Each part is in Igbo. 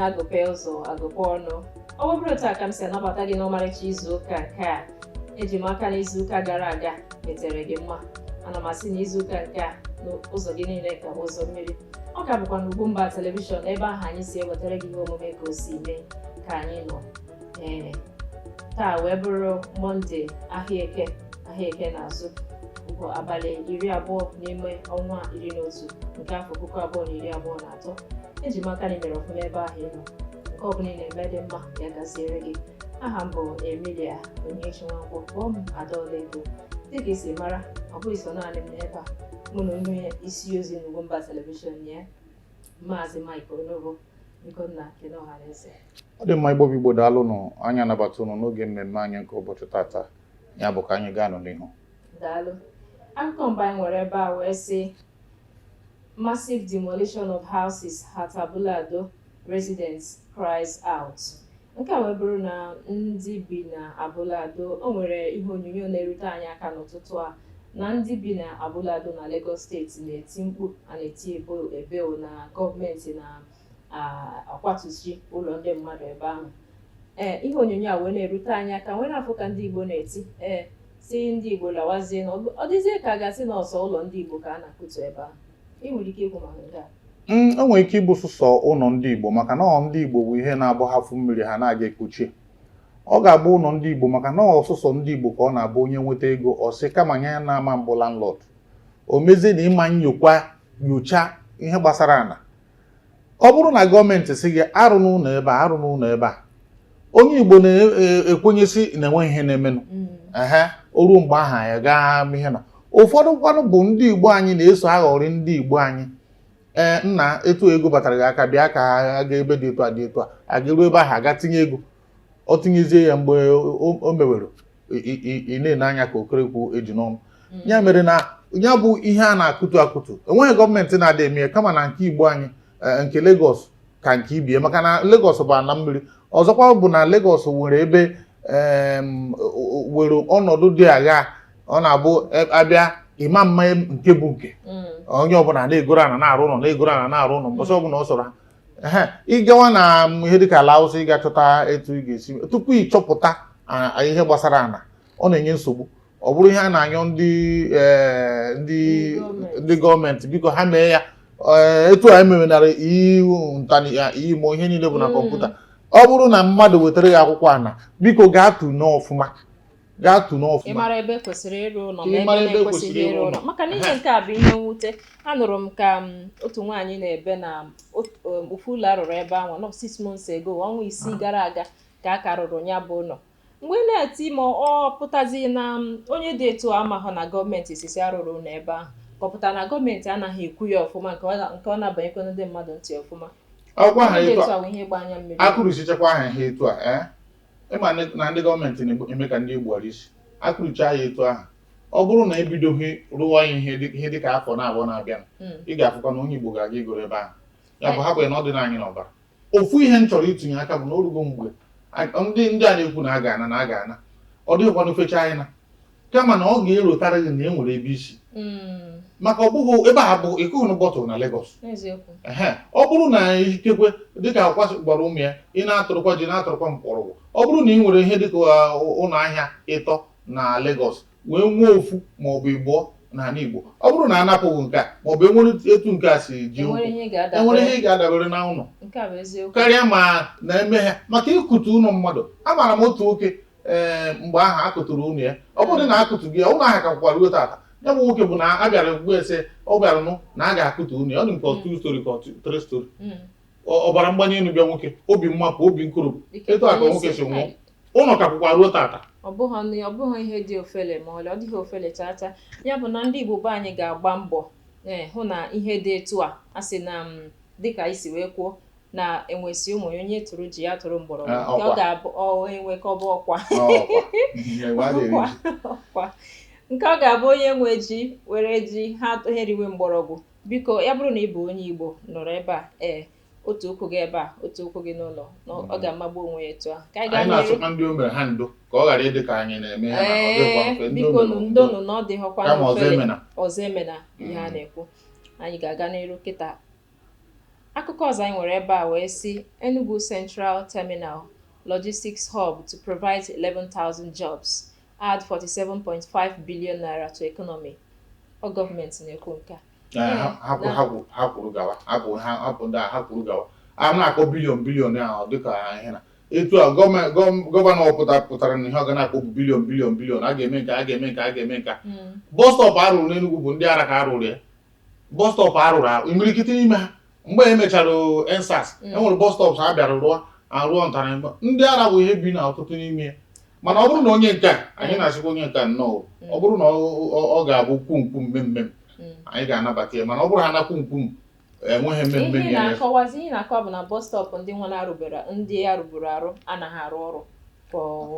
agụpe ụzọ agụpe ọnụ ọ bụrụ otu a ka m si anabata gị n'ọmarịcha izu ụka nke a eji m aka na izu ụka gara aga metere gị mma ana m asị na izu ụka nke a na ụzọ gị niile ga-abụ ụzọ mmiri ọ ka bụkwa na Ugwumba telivishọn ebe ahụ anyị si ewetara gị ihe omume ka o si mee ka anyị nọ ee taa wee bụrụ mọnde ahịa eke ahịa eke na-azụ bụ abalị iri abụọ n'ime ọnwa iri na otu nke afọ puku abụọ na iri abụọ na atọ eji m aka na i mere ọfụma ebe ahụ ị nọ nke ọbụla ị na-eme dị mma ya gaziere gị aha m bụ emilia onyechi nwankwọ kpọọ m adaọlaedo dịka i si mara ọ bụghị sọ naanị m nọ ebe a mụ na onye isi ozi n'ugwumba telivishọn ya Maazị Mike Onobo biko nna kene ọha na eze ọ dị mma igbo bụ igbo daalụ nụ anyị anabata ụnụ n'oge mmemme anyị nke ụbọchị tata ya bụ ka anyị gaa nụ n'ihu daalụ akụkọ mbụ anyị nwere ebe a wee sị massive demolition of houses at Abule Ado residents cries out Nke a wee bụrụ na ndị bi na Abule Ado, o nwere ihe onyonyo na-erute anyị aka n'ụtụtụ a na ndị bi na Abule Ado na Lagos steeti na-eti mkpu a na-eti ebo ebeo na gọọmenti na-akwatusi ụlọ ndị mmadụ ebe ahụ ee ihe onyonyo a wee na-erute anyị aka wee na-afụ ka ndị Igbo na-eti ee sị ndị Igbo lawazie na ọ dịzie ka a ga-asị na ọ sọ ụlọ ndị Igbo ka a na-akụtu ebe ahụ o nwere ike ịbụ sụsọ ụnọ ndị Igbo maka na ọ ndị Igbo bụ ihe na-abụ ha fụ mmiri ha na-aga ekpochi ọ ga-abụ ụnọ ndị Igbo maka na ọ sụsọ ndị Igbo ka ọ na-abụ onye nweta ego ọ sị kama nye ya na-ama m bụ landlord o mezie na ị ma nyokwa nyocha ihe gbasara ana ọ bụrụ na gọọmenti sị gị arụna ụnọ ebe a arụna ụnọ ebe a onye Igbo na-ekwenyesi e, na enweghị ihe na-emenụ mm. ehe o ruo mgbe ahụ ya gaa ihe na ụfọdụ kwanụ bụ ndị Igbo anyị na-eso aghọrị ndị Igbo anyị ee nna etu ego batara gị aka bịa ka a gaa ebe dị etu a dị etu a a gaa ruo ebe ahụ a gaa tinye ego ọ tinyezie ya mgbe o mewere ị na-ene anya ka okerekwu eji n'ọnụ mm. ya mere na ya bụ ihe a na-akụtu akụtu enweghị gọọmenti na-adị eme ya kama na nke igbo anyị e, nke Lagos ka nke ibe ya maka na Lagos bụ ana mmiri ọzọkwa bụ na Lagos nwere ebe were ọnọdụ dị agha ọ na-abụ e, a bịa ị ma ama nke bụ nke mm. onye ọbụla na-egoro ana na-arụ ụlọ na-egoro ana na-arụ ụlọ mbọsị ọbụla ọ sọrọ ha ị gawa na ihe dịka ala awụsa ị ga-achọta etu ị ga-esi tupu ị chọpụta ihe gbasara ana ọ na-enye nsogbu ọ bụrụ ihe a na-ayọ ndị e, ndị ndị gọọmenti biko ha mee ya e, etu a emewenara iwu ntani ya imo ihe niile bụ na mm. kọmputa ọ bụrụ na mmadụ wetara gị akwụkwọ ana biko gaa tụnee ya ọfụma gaa tụ n'ọfụma ịmara ebe kwesịrị ịrụ ụlọ na ebe na-ekwesịghị ịrụ ụlọ maka na ihe nke a bụ ihe mwute anụrụ m ka um, otu nwaanyị na-ebe na um, ofu ụlọ a rụrụ ebe ahụ nọ six months ago ọnwa isii gara aga ka a ka rụrụ ya bụ ụlọ mgbe ị na-eti ma ọ pụtazi na um, onye dị etu amahụ na gọọmenti sị sị arụna ụlọ ebe ahụ ka ọ pụta na gọọmenti anaghị ekwu ya ọfụma nke ọ na-abanyekwa ndị mmadụ ntị ọfụma a kụrisichakwaa ha ihe etu a eh? Ịma na ndị gọọmenti na-eme ka ndị e gbuwara isi a kụrichaa ya etu ahụ ọ bụrụ na e bidoghị rụwa ya ihe dị- ihe dịka afọ naabọ na-abịa Mm. ị ga-afụkwa na onye Igbo ga-aga igoro ebe ahụ ya bụ hapụ ya na ọ dịna anyị n'ọbara ofu ihe m chọrọ itinye aka bụ na orugo mgbe a- ndị ndị a na-ekwu na a ga-ana na a ga-ana ọ dịghịkwa n'ofecha anyị na kama na ọ ga-erotara gị na e nwere ebe i si mm. maka ọ bụghị ebe a bụ ịkụghị na bọtụlụ na Lagos ọ bụrụ na ikekwe dịka ọkwa gwara ụmụ ya ị na-atụrụkwa ji na-atụrụkwa mkpọrọgwụ ọ bụrụ na ị nwere ihe dịka uh, ụlọ ahịa ịtọ na Lagos wee nwee ofu ma ọ bụ ịbụọ n'ala Igbo ọ bụrụ na a napụ gị nke a maọbụ e nwere etu nke a si ji ụkwụ e nwere ihe ị ga-adabere na ụlọ karịa ma na-eme ha maka ịkụtu ụlọ mmadụ amaara m otu nwoke ee mgbe ahụ a kụturu ụlọ ya ọ bụrụ na a kụtughị ya ụlọ ahụ ka kwụkwa ruo tata ya bụ nwoke bụ na a bịara ugbu ese ọ bịara nụ na a ga-akụtu ụlọ ya ọ dị m ka ọ two story ka ọ two- three story Mm. Ọ- ọbara mgbali elu bịa nwoke obi mmapụ obi nkoropụ Ike etu a ka kwụrụ nwoke isi. si nwụọ ụlọ ka kwụkwa ruo tata ọ bụghị nri ọ bụghị ihe dị ofele ma ọlị ọ dịghị ofele chaa chaa ya bụ na ndị igbo be anyị ga-agba mbọ ee hụ na ihe dị etu a a sị na m dịka i si wee kwuo na enwe sị ụmụ ya onye tụrụ ji ya tụrụ mgbọrọgwụ ah, nke ọ ga-abụ enwe ka ọ bụ ọkwa nke ọ ga-abụ onye nwe ji were ji ha eriwe mgbọrọgwụ biko ya bụrụ na ị bụ onye Igbo nọrọ ebe a ee otu ụkwụ gị ebe a otu ụkwụ gị n'ụlọ na ọ mm-hmm. ga-amagbu onwe ya etu ahụ anyị na-asịkwa ndị o mere ha ndo ka ọ ghara ịdị ka anyị na-eme ya ee bikonụ ndonụ na ọ dịghọkwa ọzọ emena ihe a mm-hmm. na-ekwu anyị ga-aga n'iru kịta Akụkọ ọzọ anyị nwere ebe a wee sị Enugu Central Terminal Logistics Hub to provide 11,000 jobs, add 47.5 billion naira to economy. Ọ gọọmenti na-ekwu nke a. Ee, ha- ha kwuru- ha kwuru- ha kwuru gawa ha kwuru ha ha kwuru ndị a ha kwuru gawa a na-akpọ bilion bilion ahụ dịka ihe na etu a gọọmenti gọọ- gọvanọ ọbụla pụtara na ihe ọ ga na-akpọ bụ bilion bilion bilion a ga-eme nke a ga-eme nke a ga-eme nke a Mm. bọs stọpụ a rụrụ n'Enugu bụ ndị ara ka a rụrụ ya bọs stọpụ a rụrụ arụ imirikiti n'ime ha mgbe e mechara EndSARS e nwere bọs stọpụ ha bịara rụọ arụọ ntara mba ndị ara bụ ihe bi na ọtụtụ n'ime ya mana ọ bụrụ na onye nke a anyị na-asịkwa onye nke a nnọọ ọ bụrụ na ọ- ọ ọ ga-abụ kwum kwum mem mem anyị ga-anabata ya mana ọ bụrụ ha na kwum kwum enweghị mem mem ihe ị nyere ya na-akọwazi ihe ị na-akọwa bụ na bọs stọpụ ndị nwere arụbere ndị a rụburu arụ anaghị arụ ọrụ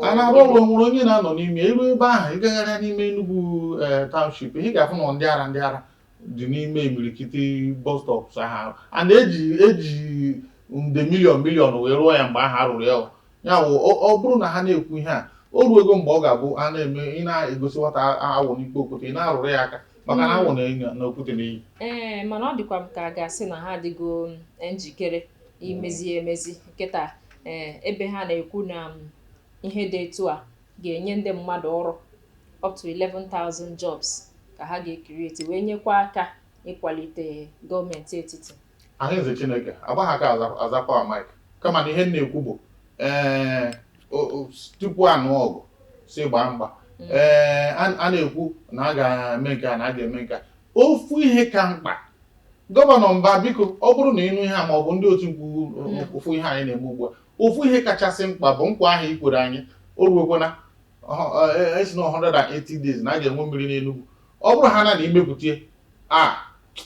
a na-arụ ọrụ nwere onye na-anọ n'ime iru ebe ahụ ị gagharịa n'ime Enugu eh, township ị ga-afụ na ndị ara ndị ara dị n'ime imirikiti bus stops ahụ a na-eji eji nde miliọn miliọn wee rụọ ya mgbe ahụ a rụrụ ya ya wụ ọ bụrụ na ha na-ekwu ihe a o ruego mgbe ọ ga-abụ a na-eme ị na-egosi nwata awọ n'ike okwute ị na-arụrụ ya aka maka na awọ na okwute na-eyi ee mana ọ dịkwa m ka a ga-asị na ha adịgo njikere imezi ya emezi kịta ee ebe ha na-ekwu na um, ihe dị etu a ga-enye ndị mmadụ ọrụ up to 11,000 jobs ka ha ga-ecreate wee nyekwa aka ịkwalite gọọmenti etiti ahụ eze Chineke agbaghị aka aza- azakwa mike kama na ihe m na-ekwu bụ ee o- o- tupu a nụọ ọgụ si gbaa mgba Mm. ee a a na-ekwu na a ga-eme nke a na a ga-eme nke a ofu ihe ka mkpa Gọvanọ Mbah, biko, ọ bụrụ na ị nụ ihe a maọbụ ndị otimkpu fụ ihe anyị na-eme ugbu a, ofu ihe kachasị mkpa bụ nkwa ahụ i kwere anyị, o ruokwana ị sị na 180 days na a ga-enwe mmiri n'Enugwu. Ọ bụrụhaa na na i mepụta ya, a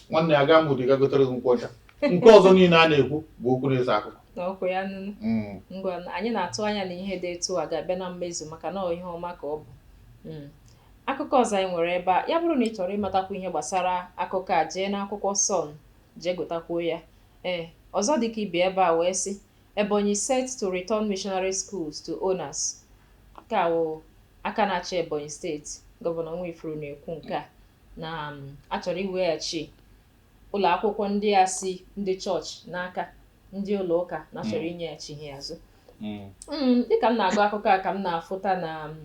nwanne agaa m Udi ga gotere gị nkwụ ọcha. Nke ọzọ niile a na-ekwu bụ okwu na-ese akụkọ. na ọkụ ya nụnụ Mm. ngwa anyị na-atụ anya na ihe dị etu a ga-abịa na mmezu maka na ọ ihe ọma ka ọ bụ Mm. Akụkọ ọzọ anyị nwere ebe a, ya bụrụ na ị chọrọ ịmatakwu ihe gbasara akụkọ a, jee n'akwụkwọ Sun, jee gụtakwuo ya. Ee, ọzọ dị ka ibe ya ebe a wee sị, Ebonyi set to return missionary schools to owners. Nke a wụ aka na-achị Ebonyi steeti, Gọvanọ Nwifuru na-ekwu nke a na um, a chọrọ iweghachi ụlọ akwụkwọ ndị a si ndị chọọchị n'aka ndị ụlọ ụka na a chọrọ inyeghachi ha azụ. Mm, dịka m na-agụ akụkọ a ka m na-afụta na um,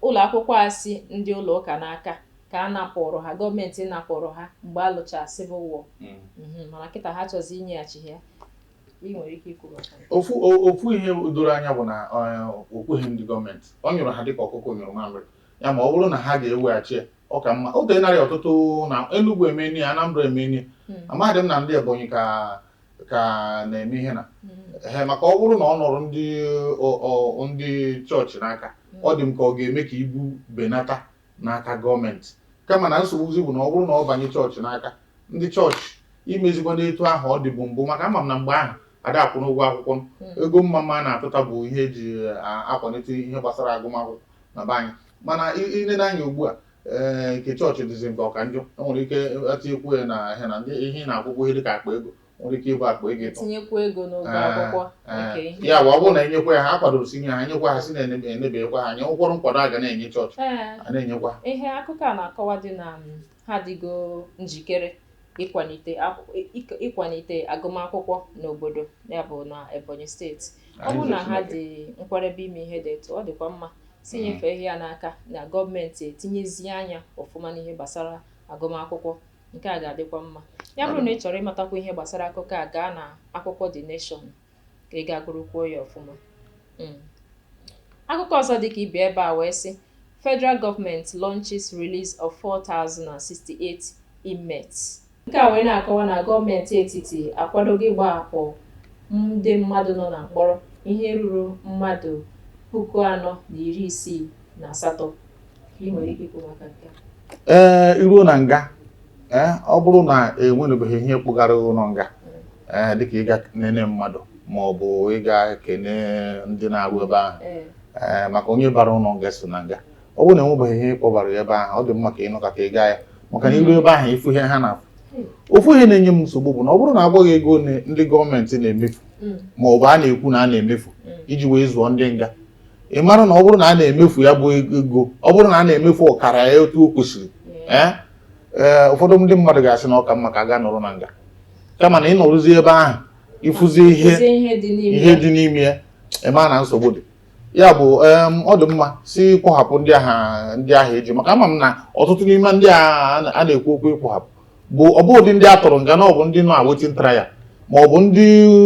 Ụlọakwụkwọ a si ndị ụlọụka n'aka ka a napụụrụ ha, gọọmenti napụụrụ ha mgbe a lụchara Civil War. Mhm, Mana kịta ha chọzi inyeghachi ha ya. Ị nwere ike ikwu maka ya? Ofu o- ofu ihe doro anya bụ na eh, o kweghị ndị gọọmenti ọ nyụrụ ha dịka ọkụkọ nyụrụ mamịrị ya ma ọ bụrụ na ha ga-eweghachi ya ọ ka mma o tenarị ọtụtụ na Enugu emeni ya Anambra emeni ya amadị m na ndị Ebonyi ka ka na-eme ihe na ehe maka ọ bụrụ na ọ nọrọ ndị ọ- ọ- ndị chọọchị n'aka ọ dị m ka ọ ga-eme ka ibu benata n'aka gọọmenti kama na nsogbuzi bụ na ọ bụrụ na ọ banye chọọchị n'aka ndị chọọchị imezikwanụ etu ahụ ọ dịbu mbụ maka ama m na mgbe ahụ ada akwụnụ ụgwọ akwụkwọ ego mmamma a na-atụta bụ ihe e ji a- akwalite ihe gbasara agụmakwụkwọ na be anyị mana i lenụ anya ugbu a ee nke chọọchị dịzi nke ọ ka njọ e nwere ike e tinyekwu ya na ahịa na ndị ihe ị na-akwụkwa ihe dịka akpa ego nwere ike ịbụ akpa ego ịtọ tinyekwu ego n'ụgwọ Ee, akwụkwọ ee. nke ihe ya bụ ọ bụrụ na e nyekwa ya ha a kwadoro si nye ha nyekwa ha si na-enebekwa ha anya ụkwụrụ nkwado a ga na-enye chọọchị Ee, a na-enyekwa ha ihe akụkọ a na-akọwa dị na um, Ha adịgo njikere ịkwalite akwụ- ị- ị- ịkwalite agụmakwụkwọ n'obodo ya bụ na Ebonyi steeti ọ bụrụ na ha dị nkwarebe ime ihe dị etu ọ dịkwa mma si nyefee ihe a n'aka na gọọmenti etinyezie anya ọfụma n'ihe gbasara agụmakwụkwọ nke a ga-adịkwa mma ya bụrụ na ị chọrọ ịmatakwu ihe gbasara akụkọ a gaa na akwụkwọ The Nation ka ị gaa gụrụkwuo ya ọfụma hmm. akụkọ ọzọ dị ka ibe ebe a wee sị federal government launches release of 4068 inmates nke a wee na-akọwa na gọọmenti etiti akwadogo ịgbahapụ ndị mmadụ nọ na mkpọrọ ihe ruru mmadụ puku anọ na iri isii na asatọ ee eh, i ruo na nga ee eh, ọ bụrụ na enwerebeghị ihe kpọgara ụlọ nga ee eh, dịka ịga nene mmadụ ma ọ bụ ịga kene ndị na-arụ ebe ahụ ee maka onye bara ụlọ nga so na nga ọ bụrụ na enwebeghị ihe kpọbara ya ebe ahụ ọ dị mma ka ị nọkata ị gaa ya maka na i ruo ebe ahụ ị fụ ihe ha na-afụ ofu ihe na-enye m nsogbu bụ na ọ bụrụ na a gwa gị ego ndị gọọmenti na-emefu mm. ma ọ bụ a na-ekwu na a na-emefu mm. iji wee zụọ ndị nga ị mara na ọ bụrụ na a na-emefu ya bụ ego ọ bụrụ na a na-emefu ọkara ya otu o kwesịrị ee ee ụfọdụ ndị mmadụ ga-asị na ọ ka mma ka ha gaa nọrọ na nga kama na ị nọruzie ebe ahụ ị fụzie ihe Ezi ihe dị n'ime ihe ya. dị n'ime ya ị mara na nsogbu dị ya bụ em, ọ dị mma si kpọhapụ ndị ahụ ndị ahụ e ji maka ama m na ọtụtụ n'ime ndị a a na-ekwu okwu ịkpọhapụ bụ ọ bụ ụdị ndị a tụrụ nga na ọ bụ ndị nọ awaiting trial ma ọ bụ ndị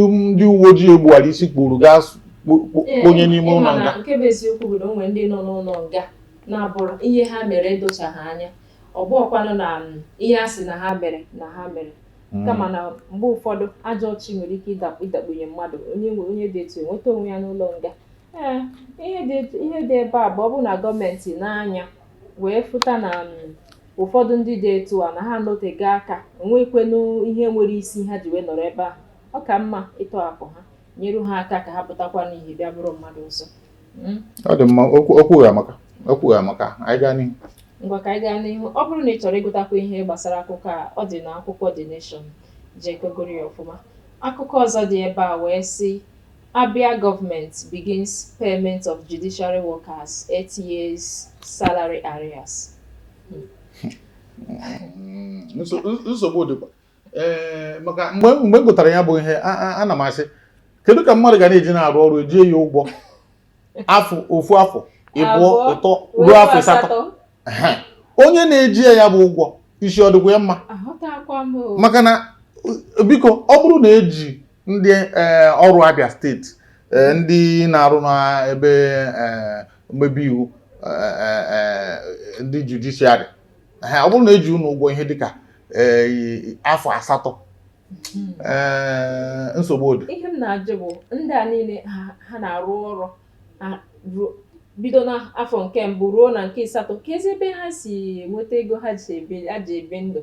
ndị uwe ojii gbuwara isi kpụrụ gaa s- kpọ- kpọ- kpọnye n'ime ụlọ nga nke bụ eziokwu bụ na o nwere ndị nọ n'ụlọ nga na-abụrụ ihe ha mere edochaghị anya ọ bụrọkwanụ na mm, ihe a sị na ha mere na ha mere kama na mgbe ụfọdụ ajọ chi nwere ike ịdakpu ịdakpunye mmadụ onye nwe onye dị etu enweta onwe ya n'ụlọ nga ee ihe dị etu- ihe dị ebe a bụ ọ bụrụ na gọọmenti nee anya wee fụta na um, ụfọdụ ndị dị etu a na ha anọtego aka enwekwenụ ihe nwere isi ha ji wee nọrọ ebe ahụ ọ ka mma ịtọhapụ ha nyere ha aka ka ha pụtakwa n'ihe bịa bụrụ mmadụ ọzọ hmm? ọ dị mma okwu amaka okwu amaka anyị gaa n'ihu ngwa ka anyị gaa n'ihu ọ bụrụ na ị chọrọ ịgụtakwa ihe gbasara akụkọ a ọ dị na akwụkwọ The Nation jee ka ị gụrụ ya ọfụma akụkọ ọzọ dị ebe a wee sị Abia Government begins payment of judiciary workers eight years salary arrears. nsogbu dịkwa ee maka mgbe mgbe m gụtara ya bụ ihe a- a- ana m asị kedu ka mmadụ ga na-eji na-arụ ọrụ e jie ya ụgwọ afọ ofu afọ ịbụọ Abụọ, ịtọ ruo afọ asatọ onye na-eji ya bụ ụgwọ isi ọ dịkwa ya mma maka na biko ọ bụrụ na eji ndị e, ọrụ Abia steeti e, ndị na-arụ n'ebe e, mmebi iwu ndị judiciary ọ bụrụ na eji unu ụgwọ ihe dịka afọ asatọ hmm. nsogbu dị ihe m na-ajụ bụ ndị a niile ha na-arụ ọrụ bido n'afọ nke mbụ ruo na nke ịsatọ keezi ebe ha si nweta ego ha ji ebi ndụ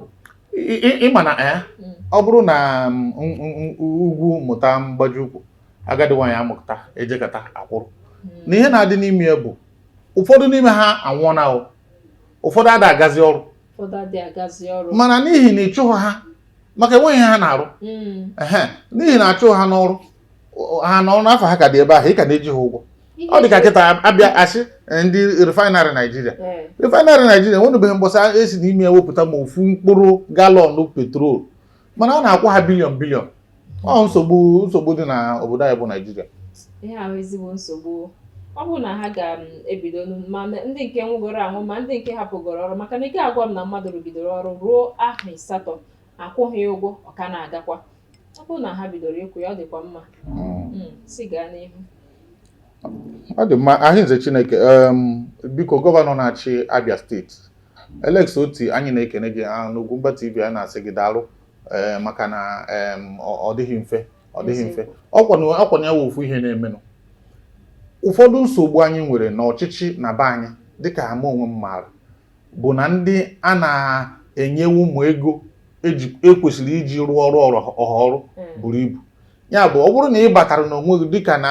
ị ma na eh, hmm. ọ bụrụ na mm, ugwu mụta mgbaji ukwu agadi nwaanyị amụta ejekata akwụrụ hmm. na ihe na-adị n'ime ya bụ ụfọdụ n'ime ha anwụọna ụfọdụ ada agazi ọrụ mana n'ihi na ịchụghị ha maka enweghị ihe ha na-arụ hmm. n'ihi na achụghị ha n'ọrụ ha na afa ha ka dị ebe ahụ ị ka na-eji ha ụgwọ ọ dị ka kịta a bịa sị eh, ndị refinery Naijiria eh. refinery Naijiria nwenubeghị mbọsị e si n'ime ya wepụta ma ofu mkpụrụ galọn petrol mana a na-akwụ ha billion billion ọ nsogbu nsogbu dị na obodo anyị bụ Naijiria ihe a wụ ezigbo nsogbu ọ bụrụ na ha ga-ebido mm, ma ndị nke nwụgoro anwụ ma ndị nke hapụgoro ọrụ maka na ị ga-agwa m na mmadụ rụgidere ọrụ ruo afọ ịsatọ akwụghị ụgwọ ọ ka na-agakwa ọ bụrụ na ha bidoro ịkwụ ya ọ dịkwa mma mm. Mm, si gaa n'ihu ọ dị mma arịnze Chineke biko gọvanọ na-achị Abia steeti Alex Otti anyị na-ekene gị ah, n'Ugwumba TV anyị na-asị gị daalụ eh, maka na ọ dịghị mfe ọ dịghị mfe ọkwanụ ya wụ ofu ihe na-emenụ ụfọdụ nsogbu anyị nwere n'ọchịchị na be anyị dịka ama onwe m maara bụ na ndị a na-enye ụmụ ego eji ekwesịrị iji rụọ ọrụ ọrụ ọha ọrụ Mm. buru ibu ya bụ ọ bụrụ na ị batara n'onwe gị dịka na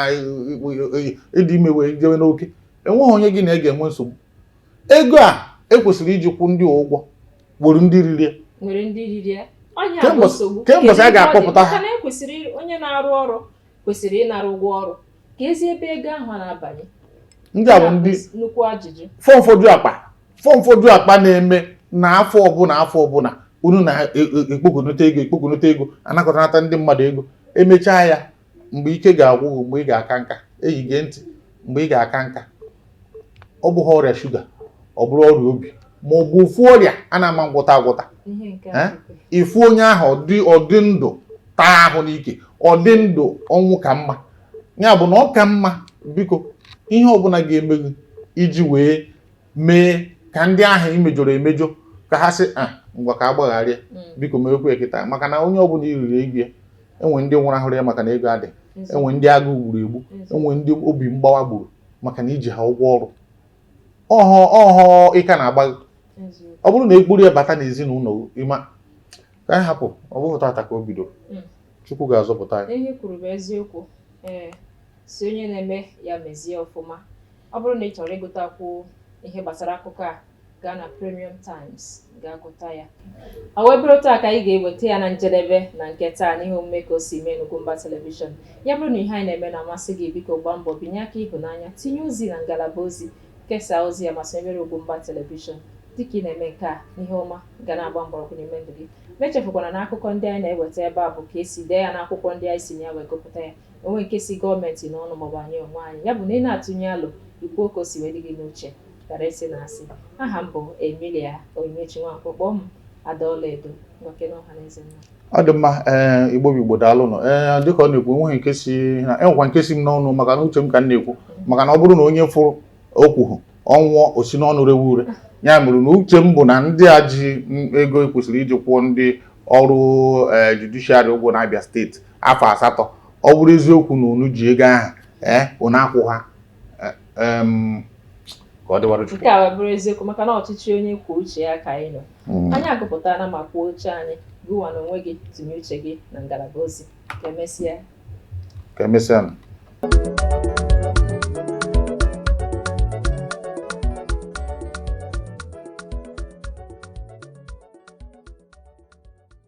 ịdị ime wee jewe n'oke enweghị onye gị na ya ga-enwe nsogbu ego a ekwesịrị iji kwụọ ndị ụgwọ nwere ndị riri ya. nwere ndị riri ya onye Kee mgbe- a bụ nsogbu kee mbọsị Kedu a ihe ọ dị? ga-akpọpụta ha? Maka na ekwesịrị onye na-arụ ọrụ kwesịrị ịnara ụgwọ ọrụ keezi ebe ego ahụ a na-abanye ndị a bụ ndị nnukwu ajụjụ fọm foju akpa fọm foju akpa na-eme na afọ ọbụla afọ ọbụla unu na-ekpokonụta e, e, ego ekpokonụta ego anakọta anata ndị mmadụ ego emechaa ya mgbe ike ga-agwụ mgbe ị ga-aka nka eyi gee ntị mgbe ị ga-aka nka ọ bụghị ọrịa shuga ọ bụrụ ọrịa obi ma ọ bụ ofu ọrịa a na-ama agwọta agwọta ị fụ onye ahụ ọdị ndụ taa ahụ n'ike ọdị ndụ ọnwụ ka mma ya bụ na ọ ka mma biko ihe ọbụla ga-eme gị iji wee mee ka ndị ahụ e mejọrọ emejọ ka ha sị a ah, ngwa ka a gbaghara mm. biko mewekwa ya kịta maka na onye ọbụla e riri ego ya enwe ndị nwụrụ ahụrụ ya maka na ego adị enwe ndị agụụ gburu egbu enwe ndị obi mgbawa gburu maka na iji ha ụgwọ ọrụ ọhọ ọhọ ịka na-agba ọ bụrụ na ekpuru ya bata n'ezinụlọ ịma ka anyị hapụ ọ bụghị tata ka o bidoro hmm. chukwu ga-azọpụta anyị ihe i kwuru bụ eziokwu ee sị onye na-eme ya mezie ọfụma ọ bụrụ na ị chọrọ ịgụtakwu ihe gbasara akụkọ a gaa na Premium Times gaa gụta ya ọ wee bụrụ otu a ka anyị ga-eweta ya na njedebe na nke taa n'ihe omume ka o si mee n'Ugwumba Television ya bụrụ na ihe anyị na-eme na-amasị gị biko gbaa mbọ binye aka ịhụnanya tinye ozi na ngalaba ozi kesaa ozi ya ma sonyere Ugwumba Television dịka ị na-eme nke a ihe ọma ga na-agba mgbọrọgwụ n'ime ndụ gị ma echefukwana na akụkọ ndị anyị na-eweta ebe a bụ ka esi dee ya n'akwụkwọ ndị anyị si na ya wee gụpụta ya o nweghị nke si gọọmenti n'ọnụ maọbụ anyị onwe anyị ya bụ na ị na-atụnye alo i kwuo ka o si wee dị gị n'uche Karịa ịsị na asị aha m bụ Emilia Onyinyechi Nwankwo kpọọ m ada ọlaedo ngwa kene ọhaneze nna ọ dị mma ee eh, igbo bụ igbo daalụ nụ ee eh, dịka ọ na-ekwu enweghị nke si na enwekwa nke si m n'ọnụ maka na uche m ka m na-ekwu maka na ọ bụrụ na onye fụrụ okwu ahụ ọ nwụọ o si n'ọnụ rewe ure ya mere na uche m bụ na ndị a ji ego e kwesịrị iji kwụọ ndị ọrụ eh, judishiarị ụgwọ na Abia steeti afọ asatọ ọ bụrụ eziokwu na unu ji ego ahụ ee unu akwụ ha ka ọ dịwara Chukwu. Nke a wee bụrụ eziokwu maka na ọchịchị onye kwuo uche ya ka anyị nọ. Hmm. Anyị agụpụtana ma kwuo uche anyị gụwa na onwe gị tinye uche gị na ngalaba ozi ka emesịa. Ka emesịa.